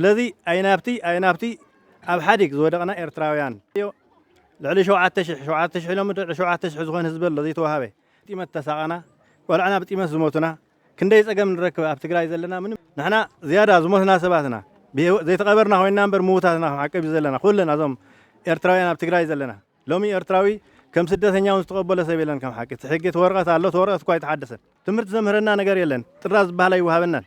ስለዚ ኣይናብቲ ኣይናብቲ ኣብ ሓዲግ ዝወደቕና ኤርትራውያን እዮ ልዕሊ ሸውዓተ ሽሕ ሸውዓተ ሽሕ ኢሎምዶ ልዕሊ ሸውዓተ ሽሕ ዝኾን ህዝቢ ኣሎ ዘይተዋሃበ ጢመት ተሳቐና ቆልዕና ብጢመት ዝሞቱና ክንደይ ጸገም ንረክብ ኣብ ትግራይ ዘለና ምንም ንሕና ዝያዳ ዝሞትና ሰባትና ዘይተቐበርና ኮይና እምበር ምውታትና ከም ዓቀብ እዩ ዘለና ኩለና እዞም ኤርትራውያን ኣብ ትግራይ ዘለና ሎሚ ኤርትራዊ ከም ስደተኛ እውን ዝተቐበሎ ሰብ የለን ከም ሓቂ እቲ ሕጊ እቲ ወረቐት ኣሎ እቲ ወረቐት እኳ ኣይተሓደሰን ትምህርቲ ዘምህረና ነገር የለን ጥራዝ ዝበሃል ኣይወሃበናን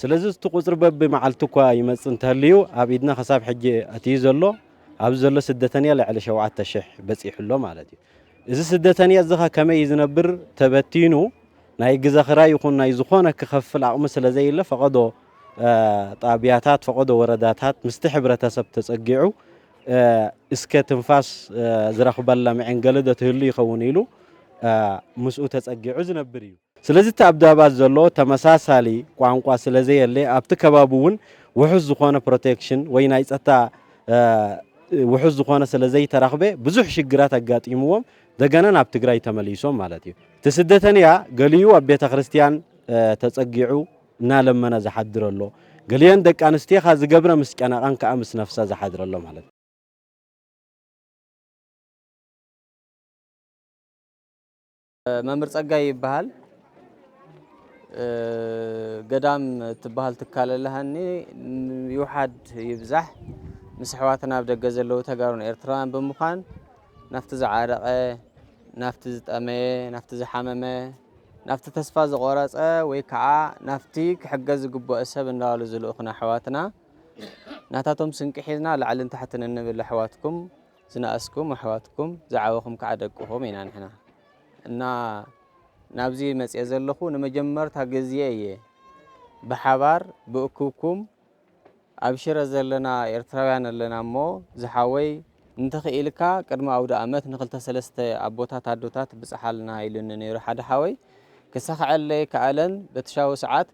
ስለዚ እቲ ቁጽሪ በቢ መዓልቱ እኳ ይመጽእ እንተሀልዩ ኣብ ኢድና ከሳብ ሕጂ ኣትዩ ዘሎ ኣብዚ ዘሎ ስደተንያ ልዕሊ ሸውዓተ ሽሕ በጺሑ ኣሎ ማለት እዩ። እዚ ስደተንያ እዚ ከ ከመይ እዩ ዝነብር ተበቲኑ ናይ ግዘ ክራይ ይኹን ናይ ዝኾነ ክኸፍል ኣቕሚ ስለ ዘየለ ፈቐዶ ጣብያታት ፈቐዶ ወረዳታት ምስቲ ሕብረተሰብ ተጸጊዑ እስከ ትንፋስ ዝረኽበላ መዔንገሊ ዶ ትህሉ ይኸውን ኢሉ ምስኡ ተጸጊዑ ዝነብር እዩ። ስለዚ እቲ ኣብ ዳባት ዘሎ ተመሳሳሊ ቋንቋ ስለዘየለ ኣብቲ ከባቢ እውን ውሑስ ዝኾነ ፕሮቴክሽን ወይ ናይ ፀጥታ ውሑስ ዝኾነ ስለዘይተረኽበ ብዙሕ ሽግራት ኣጋጢምዎም ደገና ናብ ትግራይ ተመሊሶም ማለት እዩ። እቲ ስደተንያ ገሊኡ ኣብ ቤተ ክርስቲያን ተጸጊዑ እናለመነ ዝሓድር ኣሎ። ገሊአን ደቂ ኣንስትዮ ኸኣ ዝገብረ ምስ ጨነቐን ከኣ ምስ ነፍሰ ዝሓድር ኣሎ ማለት እዩ። መምህር ጸጋይ ይበሃል ገዳም ትበሃል ትካል ኣለሃኒ ይውሓድ ይብዛሕ ምስ ኣሕዋትና ኣብ ደገ ዘለዉ ተጋሩን ኤርትራውያን ብምዃን ናብቲ ዝዓረቐ ናብቲ ዝጠመየ ናብቲ ዝሓመመ ናብቲ ተስፋ ዝቆረፀ ወይ ከዓ ናብቲ ክሕገዝ ዝግበኦ ሰብ እንዳበሉ ዝልእኹና ኣሕዋትና ናታቶም ስንቂ ሒዝና ላዕልን ታሕትን እንብል ኣሕዋትኩም ዝነኣስኩም ኣሕዋትኩም ዝዓበኹም ካዓ ደቅኹም ኢና ንሕና እና ናብዚ መፅየ ዘለኹ ንመጀመርታ ግዝየ እየ ብሓባር ብእኩብኩም ኣብ ሽረ ዘለና ኤርትራውያን ኣለና እሞ ዝሓወይ እንተኽኢልካ ቅድሚ ኣውደኣመት ንክልተ ሰለስተ ኣቦታት ኣዶታት ብፅሓልና ኢሉኒ ነይሩ ሓደ ሓወይ ክሳኽዐለይ ከኣለን በትሻዊ ሰዓት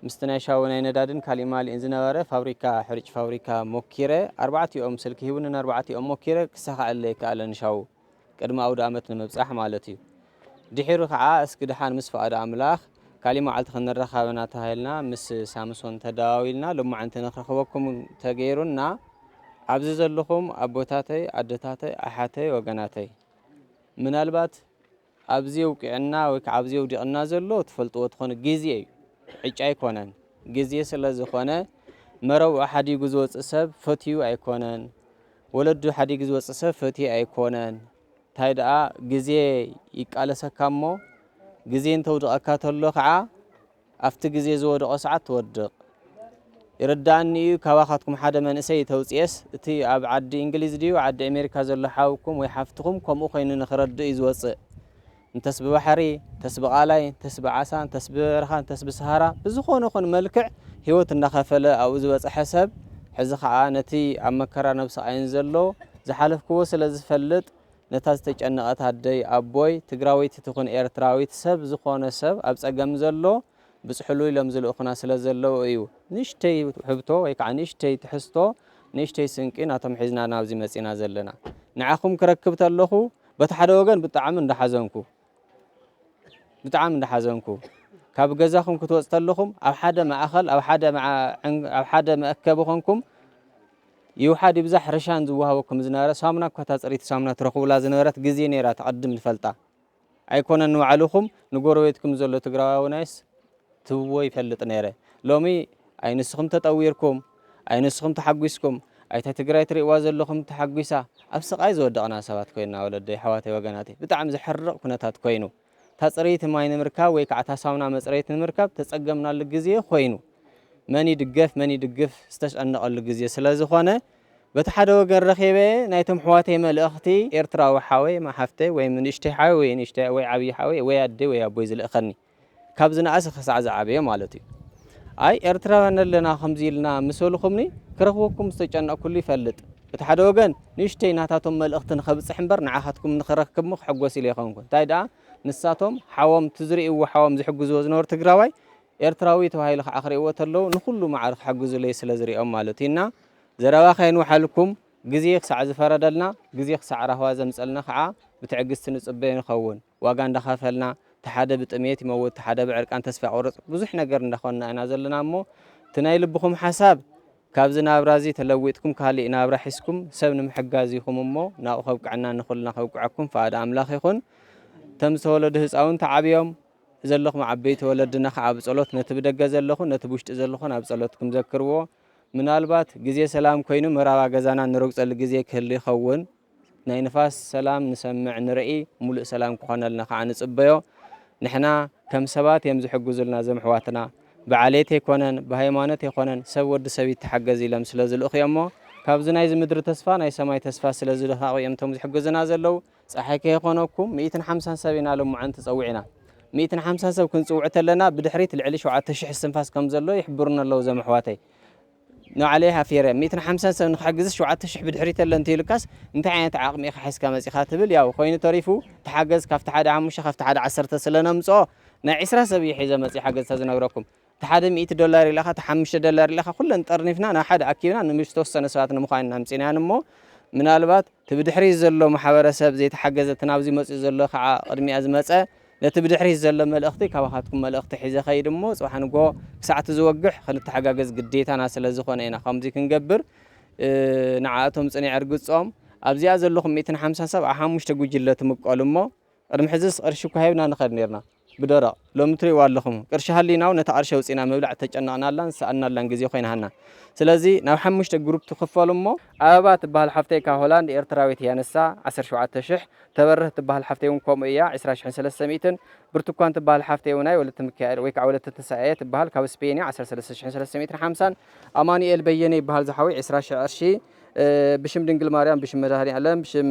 ምስቲ ናይ ሻወ ናይ ነዳድን ካሊእማሊእን ዝነበረ ፋብሪካ ሕርጭ ፋብሪካ ሞኪረ ኣርባዕቲኦም ስልኪ ሂቡኒ ንኣርባዕቲኦም ሞኪረ ክሳኸዐለይ ኣይከኣለን ንሻዉ ቅድሚ ኣውድኣመት ንምብጻሕ ማለት እዩ ድሒሩ ከዓ እስኪ ድሓን ምስ ፍቃድ ኣምላኽ ካሊእ መዓልቲ ክንራኻብ ኢና ተባሂልና ምስ ሳምሶን ተደዋዊልና ሎማዕንቲ ንክረኽበኩም ተገይሩና ኣብዚ ዘለኹም ኣቦታተይ ኣደታተይ ኣሓተይ ወገናተይ ምናልባት ኣብዚ ኣውቂዕና ወይ ክዓ ኣብዚ ኣውዲቕና ዘሎ ትፈልጥዎ ትኾኑ ግዜ እዩ ዕጫ ኣይኮነን ግዜ ስለ ዝኾነ መረብኡ ሓዲጉ ዝወፅእ ሰብ ፈትዩ ኣይኮነን ወለዱ ሓዲጉ ዝወፅእ ሰብ ፈትዩ ኣይኮነን እንታይ ደኣ ግዜ ይቃለሰካ እሞ ግዜ እንተውድቐካ ተሎ ክዓ ኣብቲ ግዜ ዝወድቆ ሰዓት ትወድቅ ይርደኣኒ ኢዩ ካባካትኩም ሓደ መንእሰይ ተውጽኤስ እቲ ኣብ ዓዲ እንግሊዝ ድዩ ዓዲ ኤሜሪካ ዘሎ ሓውኩም ወይ ሓፍትኩም ከምኡ ኮይኑ ንክረድእ ኢዩ ዝወጽእ እንተስ ብባሕሪ እንተስ ብቃላይ እንተስ ብዓሳ እንተስ ብበረካ እንተስ ብሰሃራ ብዝኮነ ኹን መልክዕ ሂወት እንዳከፈለ ኣብኡ ዝበጸሐ ሰብ ሕዚ ከኣ ነቲ ኣብ መከራን ኣብ ስቃይን ዘሎ ዝሓለፍክዎ ስለ ዝፈልጥ ነታ ዝተጨነቀት ኣደይ ኣቦይ ትግራወይቲ ትኹን ኤርትራዊት ሰብ ዝኾነ ሰብ ኣብ ፀገም ዘሎ ብፅሕሉ ኢሎም ዝልእኹና ስለ ዘለዉ እዩ ንእሽተይ ውሕብቶ ወይ ከዓ ንእሽተይ ትሕዝቶ ንእሽተይ ስንቂ ናቶም ሒዝና ናብዚ መፂና ዘለና ንዓኹም ክረክብ ተለኹ በቲ ሓደ ወገን ብጣዕሚ እንዳሓዘንኩ ብጣዕሚ እንዳሓዘንኩ ካብ ገዛኹም ክትወፅ ተለኹም ኣብ ሓደ ማእኸል ኣብ ሓደ ኣብ ሓደ መእከቢ ኮንኩም ይውሓድ ይብዛሕ ርሻን ዝወሃበኩም ዝነበረ ሳሙና እኳ እታ ፅሪቲ ሳሙና ትረኽቡላ ዝነበረት ግዜ ነይራ ተቐድም ንፈልጣ ኣይኮነን ንባዕልኹም ንጎረቤትኩም ዘሎ ትግራዋውናይስ ትብዎ ይፈልጥ ነይረ ሎሚ ኣይ ንስኹም ተጠዊርኩም ኣይ ንስኹም ተሓጒስኩም ኣይታ ትግራይ ትሪእዋ ዘለኹም ተሓጒሳ ኣብ ስቓይ ዝወደቕና ሰባት ኮይንና ወለደይ ኣሕዋተይ ወገናተይ ብጣዕሚ ዘሕርቕ ኩነታት ኮይኑ እታ ፅርይቲ ማይ ንምርካብ ወይ ከዓ እታ ሳሙና መፅረይት ንምርካብ ተፀገምናሉ ግዜ ኮይኑ መን ይድገፍ መን ይድግፍ ዝተጨነቐሉ ግዜ ስለ ዝኾነ በቲ ሓደ ወገን ረኺበ ናይቶም ኣሕዋተይ መልእኽቲ ኤርትራዊ ሓወይ ማሓፍተይ ወይ ንእሽተይ ሓወይ ወይ ንእሽተይ ወይ ዓብዪ ሓወይ ወይ ኣደይ ወይ ኣቦይ ዝልእኸኒ ካብ ዝነኣሰ ክሳዕ ዝዓበየ ማለት እዩ። ኣይ ኤርትራውያን ኣለና ከምዚ ኢልና ምስ በልኹምኒ ክረኽበኩም ዝተጨነቕኩሉ ይፈልጥ። በቲ ሓደ ወገን ንእሽተይ ናታቶም መልእኽቲ ንኸብጽሕ እምበር ንዓኻትኩም ንኽረክብ'ሞ ክሕጎስ ኢለ ኣይኮንኩን። እንታይ ደኣ ንሳቶም ሓዎም እቲ ዝርእይዎ ሓዎም ዝሕግዝዎ ዝነበሩ ትግራዋይ ኤርትራዊ ተባሂሉ ከዓ ክርእይዎ ተለዉ ንኹሉ ማዕረ ክሕግዙለይ ስለ ዝርእዮም ማለት እዩ እና ዘረባ ከየንውሓልኩም ግዜ ክሳዕ ዝፈረደልና ግዜ ክሳዕ ራህዋ ዘምጸልና ከዓ ብትዕግስቲ ንጽበዮ ንኸውን። ዋጋ እንዳኸፈልና እቲ ሓደ ብጥምየት ይመውት እቲ ሓደ ብዕርቃን ተስፋ ይቆርጽ ብዙሕ ነገር እንዳኾንና ኢና ዘለና እሞ እቲ ናይ ልብኹም ሓሳብ ካብዚ ናብራ እዚ ተለዊጥኩም ካሊእ ናብራ ሒዝኩም ሰብ ንምሕጋዝ ኢኹም እሞ ናብኡ ከብቅዐና ንኹልና ከብቅዐኩም ፍቓድ ኣምላኽ ይኹን እቶም ዝተወለዱ ህፃውንቲ ዓብዮም ዘለኹም ዓበይቲ ወለድና ከዓ ብጸሎት ነቲ ብደገ ዘለኹን ነቲ ብውሽጢ ዘለኹን ኣብ ጸሎትኩም ዘክርዎ ምናልባት ግዜ ሰላም ኮይኑ መራባ ገዛና ንረግጸሉ ግዜ ክህሉ ይኸውን ናይ ንፋስ ሰላም ንሰምዕ ንርኢ ሙሉእ ሰላም ክኾነልና ካዓ ንፅበዮ ንሕና ከም ሰባት እዮም ዝሕግዙልና እዞም ኣሕዋትና ብዓሌት ኣይኮነን ብሃይማኖት ኣይኮነን ሰብ ወዲ ሰብ ይተሓገዝ ኢሎም ስለ ዝልእኹ እዮም እሞ ካብዚ ናይዚ ምድሪ ተስፋ ናይ ሰማይ ተስፋ ስለ ዝልኻቑ እዮም እቶም ዝሕግዙና ዘለው ፀሓይ ከይኾነኩም ሚእትን ሓምሳን ሰብ ኢና ልምዓንቲ ፀዊዕና ሚእትን ሓምሳን ሰብ ክንፅውዕ ተለና ብድሕሪት ልዕሊ ሸውዓተ ሽሕ እስትንፋስ ከም ዘሎ ይሕብሩኒ ኣለው እዞም ኣሕዋተይ ንባዕለይ ሃፊረ ሚእትን ሓምሳን ሰብ ንክሕግዝስ ሸውዓተ ሽሕ ብድሕሪት ኣሎ እንተኢሉካስ እንታይ ዓይነት ዓቅሚ ኢካ ሒዝካ መጺካ ትብል ያው ኮይኑ ተሪፉ ተሓገዝ ካብቲ ሓደ ሓሙሽተ ካብቲ ሓደ ዓሰርተ ስለ ነምጽኦ ናይ ዕስራ ሰብ ኢየ ሒዘ መጺ ሓገዝታ ዝነግረኩም እቲ ሓደ ሚእቲ ዶላር ኢለካ እቲ ሓሙሽተ ዶላር ኢለካ ኩለን ጠርኒፍና ናብ ሓደ ኣኪብና ንዝተወሰነ ሰባት ንምኳን ኢና ኣምጺናየን እሞ ምናልባት እቲ ብድሕሪት ዘሎ ማሕበረሰብ ዘይተሓገዘ እቲ ናብዚ መጺኡ ዘሎ ክዓ ቅድሚኣ ዝመጸ ነቲ ብድሕሪት ዘሎ መልእኽቲ ካባኻትኩም መልእኽቲ ሒዘ ኸይድ እሞ ጽባሕ ንግሆ ክሳዕ እቲ ዝወግሕ ኽንተሓጋገዝ ግዴታና ስለ ዝዀነ ኢና ኸምዚ ክንገብር ንዓኣቶም ጽኒዕ እርግጾም ኣብዚኣ ዘለኹም ሚእትን ሓምሳን ሰብ ኣብ ሓሙሽተ ጉጅለ ትምቀሉ እሞ ቅድሚ ሕዝስ ቕርሺ እኳ ሂብና ንኸድ ኔርና ብደረቕ ሎሚ ትሪእዋ ኣለኹም ቅርሺ ሃሊናውን ነታ ቕርሺ ኣውጺእና ምብላዕ እተጨነቕናላን ዝሰኣንናላን ግዜ ዀይናሃና ስለዚ ናብ ሓሙሽተ ግሩፕ ትኽፈሉ እሞ ኣበባ ትበሃል ሓፍተይ ካብ ሆላንድ ኤርትራዊት እያ ንሳ ዓሰርተ ሸውዓተ ሽሕ ተበርህ እትበሃል ሓፍተይ እውን ከምኡ እያ፣ ዕስራ ሽሕን ሰለስተ ሚእትን። ብርቱኳን እትበሃል ሓፍተይ እውን ኣይ ወለተ ምካኤል ወይ ከዓ ወለተ ትንሳኤ እያ ትበሃል፣ ካብ ስፔን እያ፣ ዓሰርተ ሰለስተ ሽሕን ሰለስተ ሚእትን ሓምሳን። ኣማኑኤል በየነ ይበሃል ዝሓወይ፣ ዕስራ ሽሕ ቅርሺ፣ ብሽም ድንግል ማርያም ብሽም መድሃኒኣለም ብሽም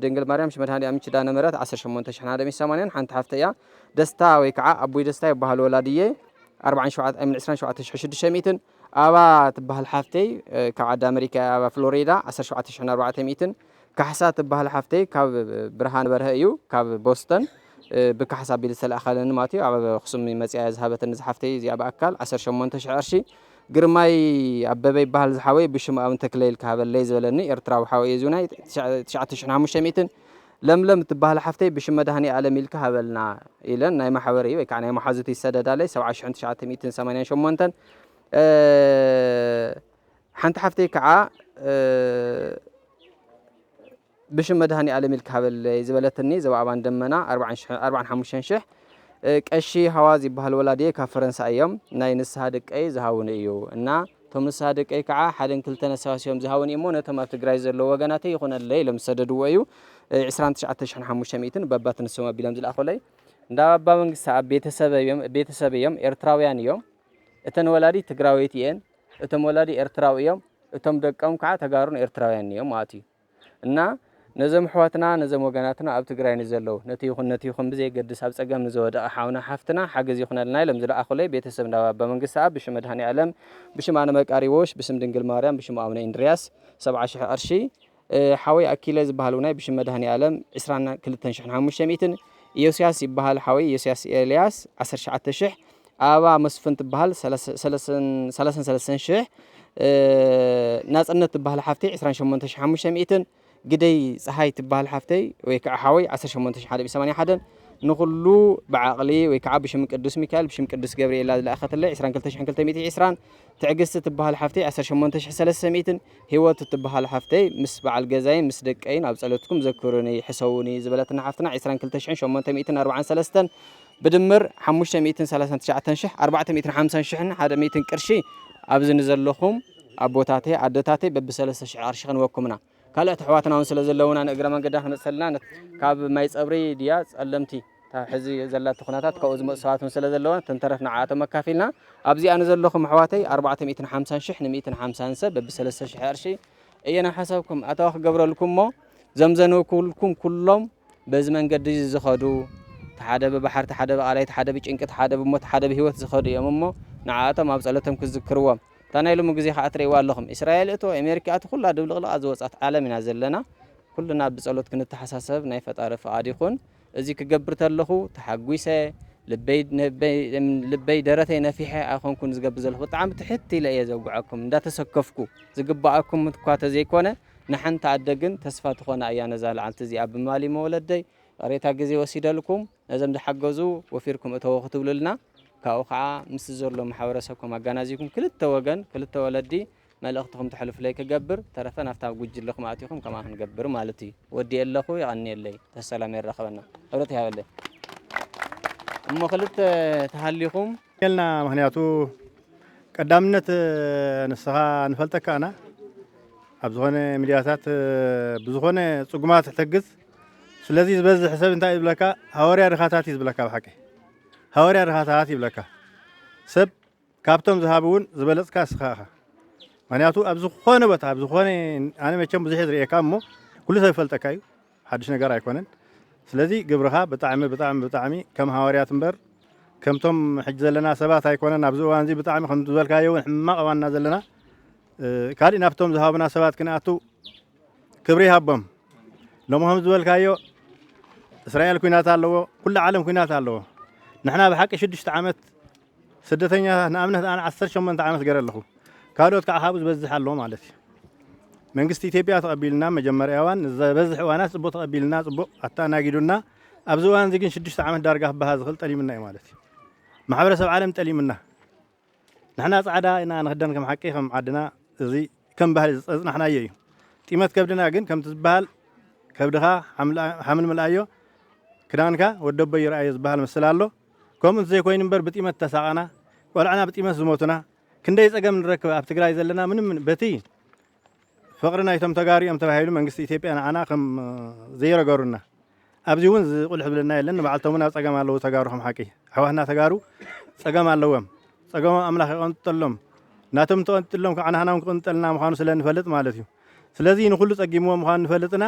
ድንግል ማርያም ብሽም መድሃኒኣም ኪዳነ ምህረት ዓሰርተ ሸሞንተ ሽሕን ሓደ ሚእትን ሰማንያን ሓንቲ ሓፍተይ እያ፣ ደስታ ወይ ከዓ ኣቦይ ደስታ ይበሃሉ ወላዲየይ፣ ኣርብዓን ሸውዓተ ኣይ ሚን ዕስራን ሸውዓተ ሽሕን ሽዱሽተ ሚእትን። ኣባ እትበሃል ሓፍተይ ካብ ዓዲ ኣመሪካ እያ፣ ኣባ ፍሎሪዳ፣ ዓሰርተ ሸውዓተ ሽሕን ኣርባዕተ ሚእትን። ካሕሳ ትባሃል ሓፍተይ ካብ ብርሃነ በርሀ እዩ ካብ ቦስተን ብካሕሳ ቢል ዝተላእከለኒ ማለት እዩ ኣብ ኣክሱም መፅያ እያ ዝሃበትኒ ዝሓፍተይ እዚኣ ብኣካል ዓሰርተ ሸሞንተ ሽሕ ቅርሺ ግርማይ ኣበበ ይበሃል ዝሓወይ ብሽሙ ኣውን ተክለ ኢልካ ሃበለይ ዝበለኒ ኤርትራዊ ሓወይ እዩ እዚውን ናይ ትሽዓተ ሽሕን ሓሙሽተ ሚእትን ለምለም እትበሃል ሓፍተይ ብሽም መድሃኒኣለም ኢልካ ሃበልና ኢለን ናይ ማሕበረይ ወይ ከዓ ናይ መሓዙት ይሰደዳለይ ሰብዓ ሽሕን ትሽዓተ ሚእትን ሰማንያን ሸሞንተን ሓንቲ ሓፍተይ ከዓ ብሽም መድሃኒኣለም ኢልካ ሃበለይ ዝበለትኒ ዘባኣባን ደመና ኣርባዓን ሓሙሽተን ሽሕ ቀሺ ሃዋዝ ይበሃል ወላድየ ካብ ፈረንሳ እዮም ናይ ንስሃ ደቀይ ዝሃውኒ እዩ እና እቶም ንስሃ ደቀይ ከዓ ሓደን ክልተን ኣሰባሲቦም ዝሃውኒ እሞ ነቶም ኣብ ትግራይ ዘለዉ ወገናተይ ይኹነለይ ኢሎም ዝሰደድዎ እዩ ዕስራን ትሽዓተ ሽሕን ሓሙሽተ ሚእትን በባት ንሶም ኣቢሎም ዝለኣኹለይ እንዳ ኣባ መንግስቲ ኣብ ቤተሰብ እዮም ኤርትራውያን እዮም እተን ወላዲት ትግራወይቲ እየን እቶም ወላዲ ኤርትራዊ እዮም እቶም ደቀም ካዓ ተጋሩን ኤርትራውያንን እዮም ማኣት እዩ እና ነዞም ኣሕዋትና ነዞም ወገናትና ኣብ ትግራይ ንዘለው ነቲ ይኹን ነቲ ይኹን ብዘየገድስ ኣብ ፀገም ንዘወደቀ ሓውና ሓፍትና ሓገዝ ይኹነልና ኢሎም ዝለኣኹለይ ቤተሰብ እንዳ ባባ መንግስተኣብ ብሽም መድሃኒኣለም ብሽም ኣነ መቃርዮሽ ብስም ድንግል ማርያም ብሽም ኣቡነ እንድርያስ ሰብዓ ሽሕ ቅርሺ ሓወይ ኣኪለ ዝባሃል ውናይ ብሽም መድሃኒኣለም ዕስራን ክልተን ሽሕን ሓሙሽተ ሚእትን ኢዮስያስ ይባሃል ሓወይ ኢዮስያስ ኤልያስ ዓሰርተ ትሽዓተ ሽሕ ኣበባ መስፍን ትባሃል ሰላሳን ሰለስተን ሽሕ ናጽነት ትባሃል ሓፍተይ ዕስራን ሸሞንተ ሽሕ ሓሙሽተ ሚእትን ግደይ ፀሓይ ትባሃል ሓፍተይ ወይ ከዓ ሓወይ ዓሰርተ ሸሞንተ ሽሕ ሓደ ሚእቲ ሰማንያ ሓደን ንኹሉ ብዓቕሊ ወይ ከዓ ብሽም ቅዱስ ሚካኤል ብሽም ቅዱስ ገብርኤል ዝለኣኸትለይ ዕስራን ክልተ ሽሕን ክልተ ሚእቲ ዕስራን ትዕግስቲ ትባሃል ሓፍተይ ዓሰርተ ሸሞንተ ሽሕ ሰለስተ ሚእትን ሂወት እትበሃል ሓፍተይ ምስ በዓል ገዛይን ምስ ደቀይን ኣብ ጸሎትኩም ዘክሩኒ ሕሰዉኒ ዝበለትና ሓፍትና ዕስራን ክልተ ሽሕን ሸሞንተ ሚእትን ኣርብዓን ሰለስተን ብድምር ሓሙሽተ ሚእትን ሰላሳን ትሽዓተን ሽሕ ኣርባዕተ ሚእትን ሓምሳን ሽሕን ሓደ ሚእትን ቅርሺ ኣብዚ ንዘለኹም ኣቦታተይ ኣደታተይ በቢ ሰለስተ ሽሕ ቅርሺ ክንበኩምና ካልኦት ኣሕዋትና ውን ስለ ዘለዉና ንእግረ መንገድና ክንመጽሰልና ነት ካብ ማይ ጸብሪ ድያ ጸለምቲ እታ ሕዚ ዘላቶ ኩነታት ካብኡ ዝመጹ ሰባት ውን ስለ ዘለዋ ተንተረፍ ንዓኣቶም ኣካፊልና ኣብዚ ኣነ ዘለኹም ኣሕዋተይ ኣርባዕተ ሚእትን ሓምሳን ሽሕ ንሚእትን ሓምሳን ሰብ በቢ ሰለስተ ሽሕ ቅርሺ እየ ናብ ሓሳብኩም ኣታዊ ክገብረልኩም እሞ ዘም ዘንበብኩልኩም ኩሎም በዚ መንገዲ እዚ ዝኸዱ ተሓደ ብባሕር ተሓደ ብቃላይ ተሓደ ብጭንቂ ተሓደ ብሞት ተሓደ ብህይወት ዝኸዱ እዮም እሞ ንዓኣቶም ኣብ ጸሎቶም ክዝክርዎም እታ ናይ ሎሚ ግዜ ከዓ ትርእይዋ ኣለኹም እስራኤል እቶ ኣሜሪካ ኣቶ ኩላ ድብልቕልቓ ዝወጻት ዓለም ኢና ዘለና ኩልና ብጸሎት ክንተሓሳሰብ ናይ ፈጣሪ ፍቓድ ይኹን እዚ ክገብር ተለኹ ተሓጒሰ ልበይ ደረተይ ነፊሐ ኣይኮንኩን ዝገብር ዘለኹ ብጣዕሚ ትሕት ኢለ እየ ዘውግዐኩም እንዳተሰከፍኩ ዝግበኣኩም እኳ ተዘይኮነ ንሓንቲ ኣደ ግን ተስፋ ትኾና እያ ነዛ ልዓልቲ እዚኣ ብማሊ መወለደይ ቕሬታ ግዜ ወሲደልኩም ነዘም ዝሓገዙ ወፊርኩም እተዎ ክትብሉልና ካብኡ ከዓ ምስ ዘሎ ማሕበረሰብኩም ኣጋናዚብኩም ክልተ ወገን ክልተ ወለዲ መልእኽትኹም ተሕልፉለይ ክገብር ተረፈ ናፍታ ጉጅለኹም ኣቲኹም ከምኣ ክንገብር ማለት እዩ ወዲኤ ኣለኹ የቐንየለይ ተሰላም የራኸበና ሕብረት ይሃበለይ እሞ ክልተ ተሃሊኹም ልና ምክንያቱ ቀዳምነት ንስኻ ንፈልጠካ ኣና ኣብ ዝኾነ ሚዲያታት ብዝኾነ ፅጉማት ትሕተግዝ ስለዚ ዝበዝሕ ሰብ እንታይ ይብለካ ሃወርያ ድኻታት እዩ ዝብለካ ብሓቂ ሃወርያ ድኻታት ይብለካ ሰብ ካብቶም ዝሃቡ ውን ዝበለጽካ እስኻ እኻ ምክንያቱ ኣብ ዝኾነ ቦታ ኣብ ዝኾነ ኣነ መቸም ብዙሕ ዝርእየካ እሞ ኩሉ ሰብ ይፈልጠካ እዩ ሓድሽ ነገር ኣይኮነን ስለዚ ግብርኻ ብጣዕሚ ብጣዕሚ ብጣዕሚ ከም ሃዋርያት እምበር ከምቶም ሕጂ ዘለና ሰባት ኣይኮነን ኣብዚ እዋን እዚ ብጣዕሚ ከም ዝበልካዮ እውን ሕማቕ እዋንና ዘለና ካልእ ናብቶም ዝሃቡና ሰባት ክንኣቱ ክብሪ ይሃቦም ሎሚ ከም ዝበልካዮ እስራኤል ኩናት ኣለዎ ኩሉ ዓለም ኩናት ኣለዎ ንሕና ብሓቂ ሽዱሽተ ዓመት ስደተኛታት ንኣብነት ኣነ ዓሰርተ ሸሞንተ ዓመት ገረ ኣለኹ ካልኦት ካዓ ካብኡ ዝበዝሕ ኣሎ ማለት እዩ መንግስቲ ኢትዮጵያ ተቀቢሉና መጀመርያ እዋን ንዘበዝሕ እዋናት ፅቡቅ ተቀቢልና ፅቡቅ ኣተኣናጊዱና ኣብዚ እዋን እዚ ግን ሽዱሽተ ዓመት ዳርጋ ክበሃ ዝኽእል ጠሊምና እዩ ማለት እዩ ማሕበረሰብ ዓለም ጠሊምና ንሕና ጻዕዳ ኢና ንክደን ከም ሓቂ ከም ዓድና እዚ ከም ባህሊ ዝፀፅናሕናዮ እዩ ጢመት ከብድና ግን ከምቲ ዝበሃል ከብድኻ ሓምል ምልኣዮ ክዳንካ ወደቦ ይርኣዮ ዝበሃል ምስል ኣሎ ከምኡ እንተዘይኮይኑ እምበር ብጢመት ተሳቀና ቆልዕና ብጢመት ዝሞቱና ክንደይ ጸገም ንረክብ ኣብ ትግራይ ዘለና ምንም በቲ ፍቅሪ ናይቶም ተጋሩ እዮም ተባሂሉ መንግስቲ ኢትዮጵያ ንዓና ከም ዘይረገሩና ኣብዚ እውን ዝቁልሕ ዝብለና የለን ንባዕልቶም እውን ኣብ ጸገም ኣለዉ ተጋሩ ከም ሓቂ ኣሕዋትና ተጋሩ ጸገም ኣለዎም ጸገሞም ኣምላኽ ይቐንጠሎም ናቶም እንተቐንጥሎም ከዓ ናህና እውን ክቕንጠልና ምዃኑ ስለ ንፈልጥ ማለት እዩ ስለዚ ንኩሉ ጸጊምዎ ምዃኑ ንፈልጥና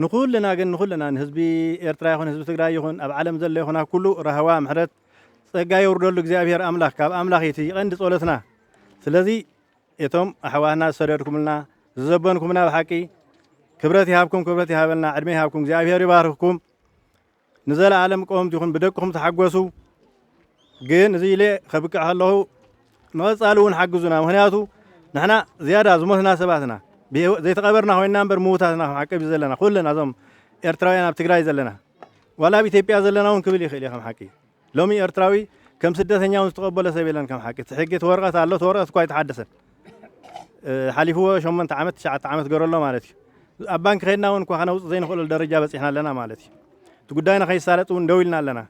ንኩልና ግን ንኩልና ንህዝቢ ኤርትራ ይኩን ህዝቢ ትግራይ ይኩን ኣብ ዓለም ዘሎ ይኩን ኣብ ኩሉ ራህዋ ምሕረት ጸጋ የውርደሉ እግዚኣብሄር ኣምላክ ካብ ኣምላክ እዩ እቲ ቀንዲ ጸሎትና ስለዚ እቶም ኣሕዋትና ዝሰደድኩምልና ዝዘበንኩምና ብሓቂ ክብረት ይሃብኩም ክብረት ይሃበልና ዕድመ ይሃብኩም እግዚኣብሄር ይባርክኩም ንዘለኣለም ቀወምቲ ይኹን ብደቅኹም ተሓጎሱ ግን እዚ ኢለ ከብቅዕ ከለኹ ንቐጻሊ እውን ሓግዙና ምክንያቱ ንሕና ዝያዳ ዝሞትና ሰባት ኢና ዘይተቐበርና ኮይና እምበር ምውታት ኢና ሓቀብ ዘለና ኩልና እዞም ኤርትራውያን ኣብ ትግራይ ዘለና ዋላ ኣብ ኢትዮጵያ ዘለና እውን ክብል ይኽእል እየ ከም ሓቂ ሎሚ ኤርትራዊ ከም ስደተኛ ውን ዝተቀበሎ ሰብ የለን ከም ሓቂ እቲ ሕጊ እቲ ወረቀት ኣሎ እቲ ወረቀት እኳ ኣይተሓደሰን ሓሊፍዎ ሸሞንተ ዓመት ትሽዓተ ዓመት ገሮ ኣሎ ማለት እዩ ኣብ ባንኪ ከድና ውን እኳ ከነውጽእ ዘይንኽእለሉ ደረጃ በጺሕና ኣለና ማለት እዩ እቲ ጉዳይና ከይሳለጥ ውን ደው ኢልና ኣለና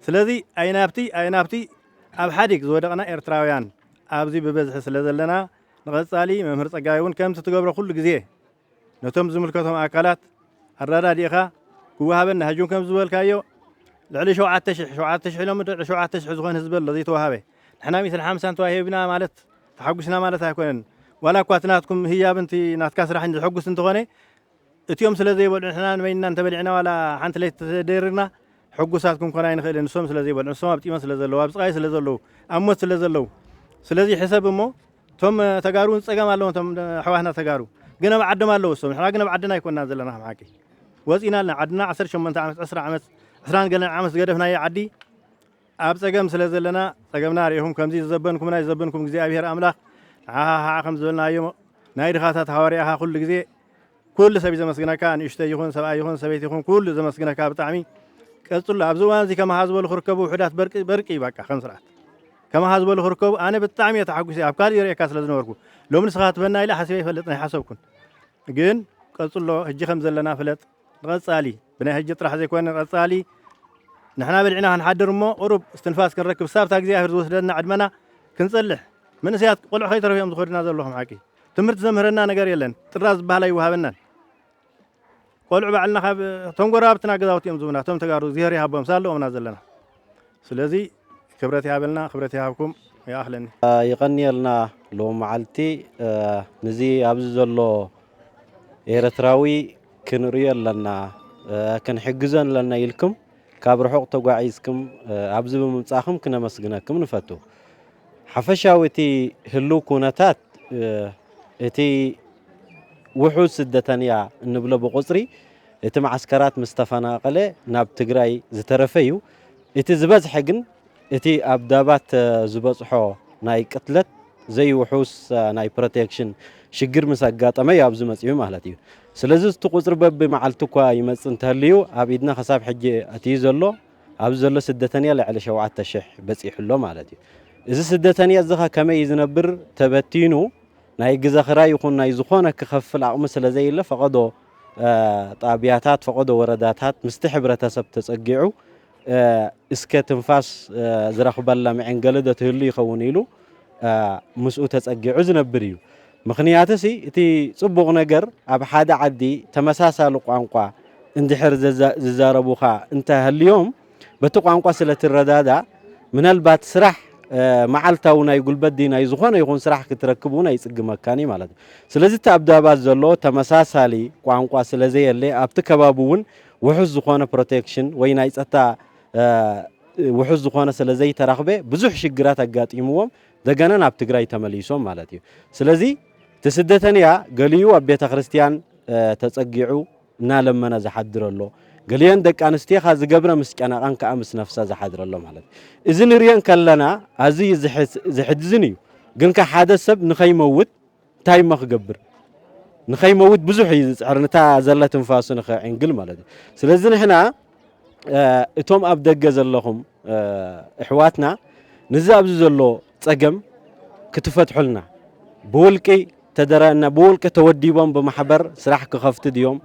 ስለዚ ኣይናብቲ ኣይናብቲ ኣብ ሓዲግ ዝወደቕና ኤርትራውያን ኣብዚ ብበዝሒ ስለ ዘለና ንቐጻሊ መምህር ጸጋይ ውን ከምቲ ትገብሮ ኩሉ ግዜ ነቶም ዝምልከቶም ኣካላት ኣራዳዲእኻ ክወሃበና ህጁም ከም ዝበልካዮ ልዕሊ ሸውዓተ ሽሕ ሸውዓተ ሽሕ ኢሎም ልዕሊ ሸውዓተ ሽሕ ዝኾን ህዝቢ ኣሎ ዘይተዋሃበ ንሕና ሚእትን ሓምሳን ተዋሂብና ማለት ተሓጒስና ማለት ኣይኮነን ዋላ እኳ እቲ ናትኩም ህያብን እቲ ናትካ ስራሕን ዘሐጉስ እንተኾነ እቲኦም ስለ ዘይበልዑ ንሕና ንበይንና እንተበሊዕና ዋላ ሓንቲ ለይቲ ተደሪርና ሕጉሳት ክንኮን ኣይንኽእልን ንሶም ስለ ዘይበልዑ ንሶም ኣብ ጢመት ስለ ዘለዉ ኣብ ስቓይ ስለ ዘለዉ ኣብ ሞት ስለ ዘለዉ ስለዚ ሕሰብ እሞ እቶም ተጋሩ እውን ፀገም ኣለዎም እቶም ኣሕዋትና ተጋሩ ግን ኣብ ዓዶም ኣለዉ እሶም ንሕና ግን ኣብ ዓድና ኣይኮንና ዘለና ከም ሓቂ ወፂእና ኣለና ዓድና ዓሰርተ ሸሞንተ ዓመት ዕስራ ዓመት ዕስራን ገለን ዓመት ዝገደፍናዮ ዓዲ ኣብ ፀገም ስለ ዘለና ፀገምና ርኢኹም ከምዚ ዝዘበንኩምና ይዘበንኩም እግዚኣብሄር ኣምላኽ ንዓኻ ከዓ ከም ዝበልናዮ ናይ ድኻታት ሃዋርያኻ ኩሉ ግዜ ኩሉ ሰብ እዩ ዘመስግነካ ንእሽተይ ይኹን ሰብኣይ ይኹን ሰበይቲ ይኹን ኩሉ እዩ ዘመስግነካ ብጣዕሚ ቀጽሎ ኣብዚ እዋን እዚ ከማኻ ዝበሉ ክርከቡ ውሑዳት በርቂ በርቂ እዩ በቃ ከም ስርዓት ከማኻ ዝበሉ ክርከቡ ኣነ ብጣዕሚ እየ ተሓጒሰ ኣብ ካልእ ይርእየካ ስለ ዝነበርኩ ሎሚ ንስኻ ትበና ኢለ ሓሲበ ይፈልጥን ኣይሓሰብኩን ግን ቀጽሎ ሕጂ ከም ዘለና ፍለጥ ንቐጻሊ ብናይ ሕጂ ጥራሕ ዘይኮነ ንቐጻሊ ንሕና በልዕና ክንሓድር እሞ ቁሩብ እስትንፋስ ክንረክብ ሳብታ እግዚኣብሔር ዝወስደና ዕድመና ክንጸልሕ መንእሰያት ቆልዑ ከይተረፉ እዮም ዝኸዱና ዘለኹም ሓቂ ትምህርቲ ዘምህረና ነገር የለን ጥራዝ ዝበሃል ኣይወሃበናን ቆልዑ ባዕልና ካብ እቶም ጎረባብትና ገዛውቲ እዮም ዝብና እቶም ተጋሩ እግዚኣብሔር ይሃቦም ሳለኦምና ዘለና ስለዚ ክብረት ይሃበልና ክብረት ይሃብኩም ይኣኽለኒ ይቐንየልና ሎሚ መዓልቲ ንዚ ኣብዚ ዘሎ ኤርትራዊ ክንርእዮ ኣለና ክንሕግዞ ኣለና ኢልኩም ካብ ርሑቕ ተጓዒዝክም ኣብዚ ብምምጻእክም ክነመስግነክም ንፈቱ። ሓፈሻዊ እቲ ህሉው ኩነታት እቲ ውሑድ ስደተንያ እንብሎ ብቑጽሪ እቲ መዓስከራት ምስ ተፈናቐለ ናብ ትግራይ ዝተረፈ እዩ። እቲ ዝበዝሐ ግን እቲ ኣብ ዳባት ዝበጽሖ ናይ ቅትለት ዘይውሑስ ናይ ፕሮቴክሽን ሽግር ምስ ኣጋጠመ'ዩ ኣብዚ መጺኡ ማለት እዩ። ስለዚ እቲ ቁጽሪ በቢ መዓልቱ እኳ ይመጽእ እንተሃልዩ ኣብ ኢድና ክሳብ ሕጂ ኣትዩ ዘሎ ኣብዚ ዘሎ ስደተንያ ልዕሊ ሸውዓተ ሽሕ በጺሑ ኣሎ ማለት እዩ። እዚ ስደተንያ እዚ ከ ከመይ እዩ ዝነብር ተበቲኑ ናይ ግዘ ክራይ ይኹን ናይ ዝኾነ ክኸፍል ኣቕሚ ስለ ዘየለ ፈቐዶ ጣብያታት ፈቐዶ ወረዳታት ምስቲ ሕብረተሰብ ተጸጊዑ እስከ ትንፋስ ዝረኽበላ መዔንገሊ ዶ ትህሉ ይኸውን ኢሉ ምስኡ ተጸጊዑ ዝነብር እዩ። ምኽንያትሲ እቲ ጽቡቕ ነገር ኣብ ሓደ ዓዲ ተመሳሳሊ ቋንቋ እንድሕር ዝዛረቡኻ እንተ ሃልዮም በቲ ቋንቋ ስለ ትረዳዳእ ምናልባት ስራሕ መዓልታዊ ናይ ጉልበት ድዩ ናይ ዝኾነ ይኹን ስራሕ ክትረክብ እውን ኣይጽግመካን እዩ ማለት እዩ። ስለዚ እቲ ኣብ ዳባት ዘሎ ተመሳሳሊ ቋንቋ ስለ ዘየለ ኣብቲ ከባቢ እውን ውሑስ ዝኾነ ፕሮቴክሽን ወይ ናይ ጸታ ውሑስ ዝኾነ ስለ ዘይተረኽበ ብዙሕ ሽግራት ኣጋጢምዎም ደገና ናብ ትግራይ ተመሊሶም ማለት እዩ። ስለዚ እቲ ስደተንያ ገሊኡ ኣብ ቤተ ክርስቲያን ተጸጊዑ እናለመነ ዝሓድር ኣሎ ገሊአን ደቂ ኣንስትዮኻ ዝገብረ ምስ ጨነቐን ከዓ ምስ ነፍሳ ዝሓድረ ኣሎ ማለት እዚ ንሪኦ ከለና ኣዝዩ ዘሕዝን እዩ ግን ከ ሓደ ሰብ ንኸይመውት እንታይ እሞ ክገብር ንኸይመውት ብዙሕ እዩ ዝፅዕር ነታ ዘላ ትንፋሱ ንኸዕንግል ማለት እዩ ስለዚ ንሕና እቶም ኣብ ደገ ዘለኹም እሕዋትና ንዚ ኣብዚ ዘሎ ፀገም ክትፈትሑልና ብውልቂ ተደረና ብውልቂ ተወዲቦም ብማሕበር ስራሕ ክኸፍት ድዮም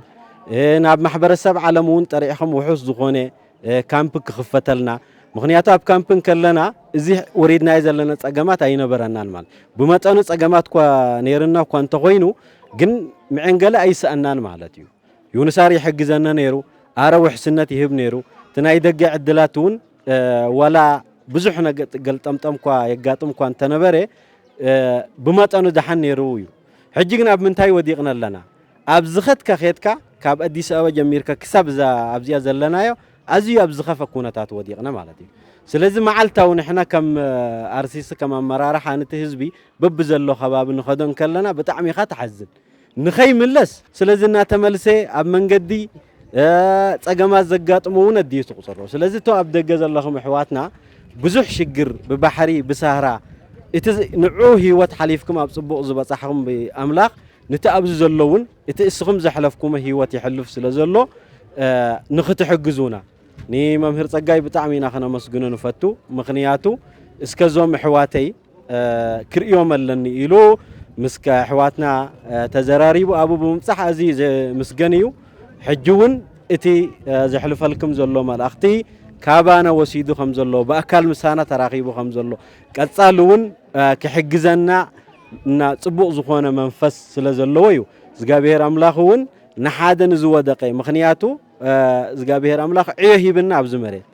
ናብ ማሕበረሰብ ዓለም እውን ጠሪዕኹም ውሑስ ዝኾነ ካምፕ ክኽፈተልና ምክንያቱ ኣብ ካምፕ እንከለና እዚ ወሪድናዮ ዘለና ጸገማት ኣይነበረናን ማለት ብመጠኑ ጸገማት እኳ ነይርና እኳ እንተኾይኑ ግን ምዕንገለ ኣይሰኣናን ማለት እዩ ዩንሳር ይሕግዘነ ነይሩ ኣረ ውሕስነት ይህብ ነይሩ እቲ ናይ ደገ ዕድላት እውን ዋላ ብዙሕ ገልጠምጠም እኳ የጋጥም እኳ እንተነበረ ብመጠኑ ደሓን ነይሩ እዩ ሕጂ ግን ኣብ ምንታይ ወዲቕና ኣለና ኣብ ዝኸድካ ኬድካ ካብ ኣዲስ ኣበባ ጀሚርካ ክሳብ እዛ ኣብዚኣ ዘለናዮ ኣዝዩ ኣብ ዝኸፈ ኩነታት ወዲቕና ማለት እዩ። ስለዚ መዓልታዊ ንሕና ከም ኣርሲሲ ከም ኣመራርሓ ንቲ ህዝቢ በብዘሎ ከባቢ ንኸዶ እንከለና ብጣዕሚ ኢኻ ትሓዝን ንኸይምለስ ስለዚ እናተመልሰ ኣብ መንገዲ ጸገማት ዘጋጥሞ እውን ኣዲኡ ትቑጽሮ ስለዚ እቶ ኣብ ደገ ዘለኹም ኣሕዋትና ብዙሕ ሽግር ብባሕሪ ብሳህራ እቲ ንዑ ህይወት ሓሊፍኩም ኣብ ጽቡቕ ዝበጻሕኹም ብኣምላኽ ንቲ ኣብዚ ዘሎ እውን እቲ እስኹም ዘሕለፍኩሞ ሂወት የሕልፍ ስለ ዘሎ ንኽትሕግዙና ንመምህር ጸጋይ ብጣዕሚ ኢና ክነመስግኖ ንፈቱ ምኽንያቱ እስከ ዞም እሕዋተይ ክርእዮም ኣለኒ ኢሉ ምስ ኣሕዋትና ተዘራሪቡ ኣብኡ ብምብጻሕ ኣዝዩ ዘምስገን እዩ ሕጂ እውን እቲ ዘሕልፈልክም ዘሎ መልእኽቲ ካባና ወሲዱ ከም ዘሎ ብኣካል ምሳና ተራኺቡ ከም ዘሎ ቀጻሊ እውን ክሕግዘና እና ጽቡቅ ዝኾነ መንፈስ ስለ ዘለዎ እዩ እዝጋብሄር ኣምላኽ እውን ንሓደ ንዝወደቀ ምኽንያቱ እዝጋብሄር ኣምላኽ ዕዮ ሂብና ኣብዚ መሬት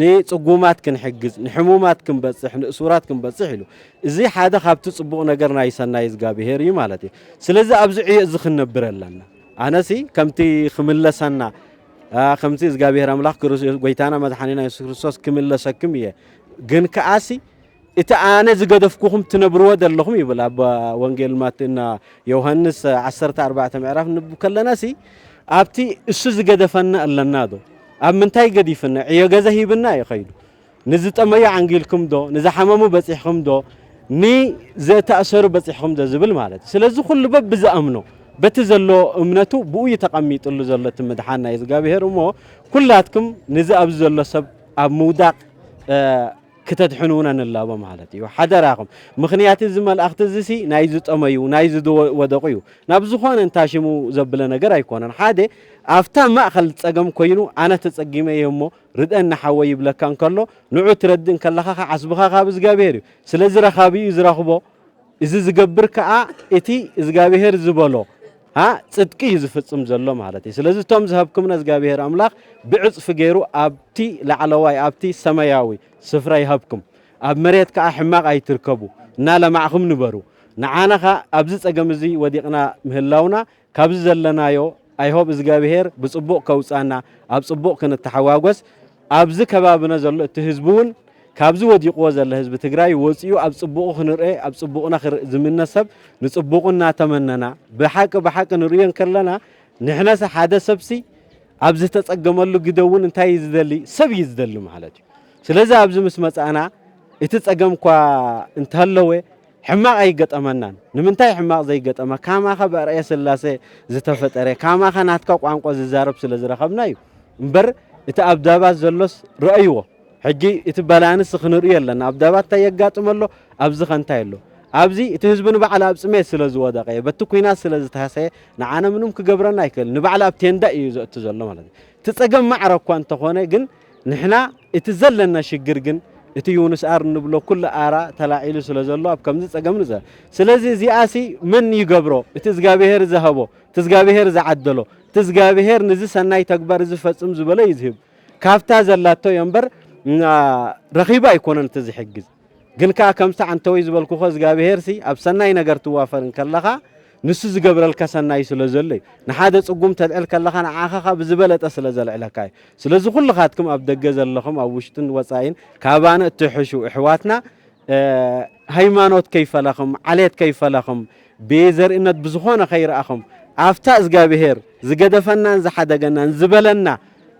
ንጽጉማት ክንሕግዝ ንሕሙማት ክንበጽሕ ንእሱራት ክንበጽሕ ኢሉ እዚ ሓደ ካብቲ ጽቡቕ ነገር ናይ ሰናይ እግዚኣብሄር እዩ ማለት እዩ ስለዚ ኣብዚ ዕዮ እዚ ክንነብር ኣለና ኣነሲ ከምቲ ክምለሰና ከምቲ እግዚኣብሄር ኣምላኽ ጎይታና መድሓኒና የሱስ ክርስቶስ ክምለሰክም እየ ግን ከኣሲ እቲ ኣነ ዝገደፍኩኹም ትነብርዎ ዘለኹም ይብል ኣብ ወንጌል ማቴ እና ዮሐንስ ዓሰርተ ኣርባዕተ ምዕራፍ ንብ ከለናሲ ኣብቲ እሱ ዝገደፈና ኣለና ዶ ኣብ ምንታይ ገዲፍና ዕዮ ገዛ ሂብና እዩ ከይዱ ንዝጠመዩ ዓንጊልኩም ዶ ንዝሓመሙ በፂሕኹም ዶ ንዘተኣሰሩ በፂሕኹም ዶ ዝብል ማለት እዩ ስለዚ ኩሉ በብ ዝኣምኖ በቲ ዘሎ እምነቱ ብኡ እዩ ተቐሚጥሉ ዘሎ እቲ ምድሓን ናይ እግዚኣብሄር እሞ ኩላትኩም ንዚ ኣብዚ ዘሎ ሰብ ኣብ ምውዳቕ ክተድሕኑና ንላቦ ማለት እዩ ሓደራኹም ምኽንያት እዚ መልኣኽቲ እዚሲ ናይ ዝጠመዩ ናይ ዝወደቑ እዩ ናብ ዝኾነ እንታ ሽሙ ዘብለ ነገር ኣይኮነን ሓደ ኣብታ ማእኸል ፀገም ኮይኑ ኣነ ተፀጊመ እየ እሞ ርደኒ ሓወይ ይብለካ እንከሎ ንዑ ትረድእ እንከለኻ ዓስብኻ ካብ እግዚኣብሔር እዩ ስለዚ ረኻቢ እዩ ዝረኽቦ እዚ ዝገብር ከኣ እቲ እዝጋብሄር ዝበሎ ጽድቂ እዩ ዝፍጽም ዘሎ ማለት እዩ ስለዚ እቶም ዝሃብኩምና እዝጋብሄር ኣምላኽ ብዕጽፊ ገይሩ ኣብቲ ላዕለዋይ ኣብቲ ሰማያዊ ስፍራ ይሃብኩም ኣብ መሬት ከኣ ሕማቕ ኣይትርከቡ እናለማዕኹም ንበሩ ንዓና ኸኣ ኣብዚ ጸገም እዚ ወዲቕና ምህላውና ካብዚ ዘለናዮ ኣይሆብ እዝጋብሄር ብጽቡቅ ከውጻና ኣብ ጽቡቅ ክንተሓጓጎስ ኣብዚ ከባብነ ዘሎ እቲ ህዝቢ ውን ካብዚ ወዲቅዎ ዘለ ህዝቢ ትግራይ ወጺኡ ኣብ ጽቡቁ ክንርኤ ኣብ ጽቡቅና ክርእ ዝምነ ሰብ ንጽቡቁ እናተመነና ብሓቂ ብሓቂ ንርእዮ እንከለና ንሕነሰ ሓደ ሰብሲ ኣብ ዝተጸገመሉ ግደ ውን እንታይ እዩ ዝደሊ ሰብ እዩ ዝደሊ ማለት እዩ ስለዚ ኣብዚ ምስ መጻእና እቲ ጸገም እኳ እንተለወ ሕማቅ ኣይገጠመናን ንምንታይ ሕማቅ ዘይገጠመ ካማካ ብኣርኣያ ስላሴ ዝተፈጠረ ካማካ ናትካ ቋንቋ ዝዛረብ ስለ ዝረከብና እዩ እምበር እቲ ኣብ ዳባት ዘሎስ ረኣይዎ ሕጂ እቲ ባላንስ ክንርእዮ ኣለና ኣብ ዳባት እንታይ የጋጥም ኣሎ ኣብዚ ከ እንታይ ኣሎ ኣብዚ እቲ ህዝቢ ንባዕሉ ኣብ ጽሜት ስለ ዝወደቀ እየ በቲ ኩናት ስለ ዝተሃሰየ ንዓነ ምንም ክገብረና ኣይክእል ንባዕሉ ኣብ ቴንዳ እዩ ዘእቱ ዘሎ ማለት እዩ እቲ ጸገም ማዕረ እኳ እንተኾነ ግን ንሕና እቲ ዘለና ሽግር ግን እቲ ዩንስኣር እንብሎ ኩሉ ኣራ ተላዒሉ ስለ ዘሎ ኣብ ከምዚ ጸገም ንዘ ስለዚ እዚኣሲ መን ይገብሮ እቲ እዝጋብሄር ዝሀቦ እቲ እዝጋብሄር ዝዓደሎ እቲ እዝጋብሄር ንዚ ሰናይ ተግባር እዚ ፈጽም ዝበሎ እዩ ዝህብ ካብታ ዘላቶ እዮ እምበር ረኺቡ ኣይኮነን እቲ ዝሕግዝ ግን ከኣ ከምቲ ዓንተወይ ዝበልኩኸ እዝጋብሄርሲ ኣብ ሰናይ ነገር ትዋፈር እንከለኻ ንሱ ዝገብረልካ ሰናይ ስለ ዘሎ እዩ። ንሓደ ጽጉም ተልዕል ከለኻ ንዓኻ ከኣ ብዝበለጠ ስለ ዘልዕለካ እዩ። ስለዚ ኩልኻትክም ኣብ ደገ ዘለኹም ኣብ ውሽጥን ወጻኢን ካባና እትሕሹ እሕዋትና ሃይማኖት ከይፈለኽም ዓሌት ከይፈለኽም ብዘርእነት ብዝኾነ ከይረኣኹም ኣብታ እዝጋብሄር ዝገደፈናን ዝሓደገናን ዝበለና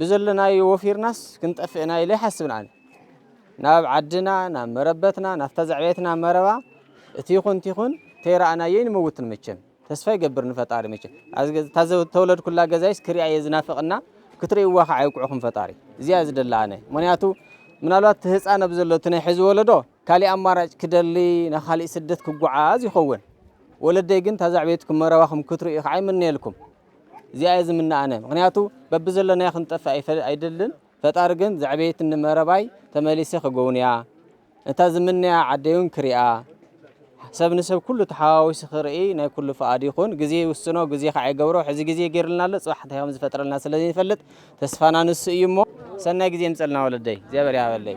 ብዘለናዮ ወፊርናስ ክንጠፍእ ኢና ኢለ ኣይሓስብን ኣነ ናብ ዓድና ናብ መረበትና ናብታ ዘዕበየትና መረባ እቲ ይኹን ይኹን ተይረኣናዮ ንመውትን መቸም ተስፋ ይገብር ንፈጣሪ መቸም እታ ዝተወለድኩላ ገዛይስ ክሪኣ እየ ዝናፍቕና ክትርእይዋ ከዓ ይውቅዕኹም ፈጣሪ እዚኣ ዝደላ ኣነ ምክንያቱ ምናልባት እቲ ህፃን ኣብ ዘሎ እቲ ናይ ሕዚ ወለዶ ካሊእ ኣማራጭ ክደሊ ናብ ካሊእ ስደት ክጓዓዝ ይኸውን ወለደይ ግን ታዛዕቤትኩም መረባኹም ክትርእዩ ከዓ ይምነየልኩም እዚኣ እየ ዝምነ ኣነ ምክንያቱ በብዘለናዮ ክንጠፍእ ኣይደልን ፈጣሪ ግን ዘዕበየትኒ መረባይ ተመሊሰ ክጎውንያ እታ ዝምነያ ዓደይውን ክሪኣ ሰብ ንሰብ ኩሉ ተሓዋዊሱ ክርኢ ናይ ኩሉ ፍቓድ ይኹን ግዜ ይውስኖ ግዜ ከዓ ይገብሮ ሕዚ ግዜ ገይርልና ኣሎ ፅባሕ እንታይ ከም ዝፈጥረልና ስለ ዘይንፈልጥ ተስፋና ንሱ እዩ እሞ ሰናይ ግዜ ምፀልና ወለደይ እግዚኣብሔር ያበለይ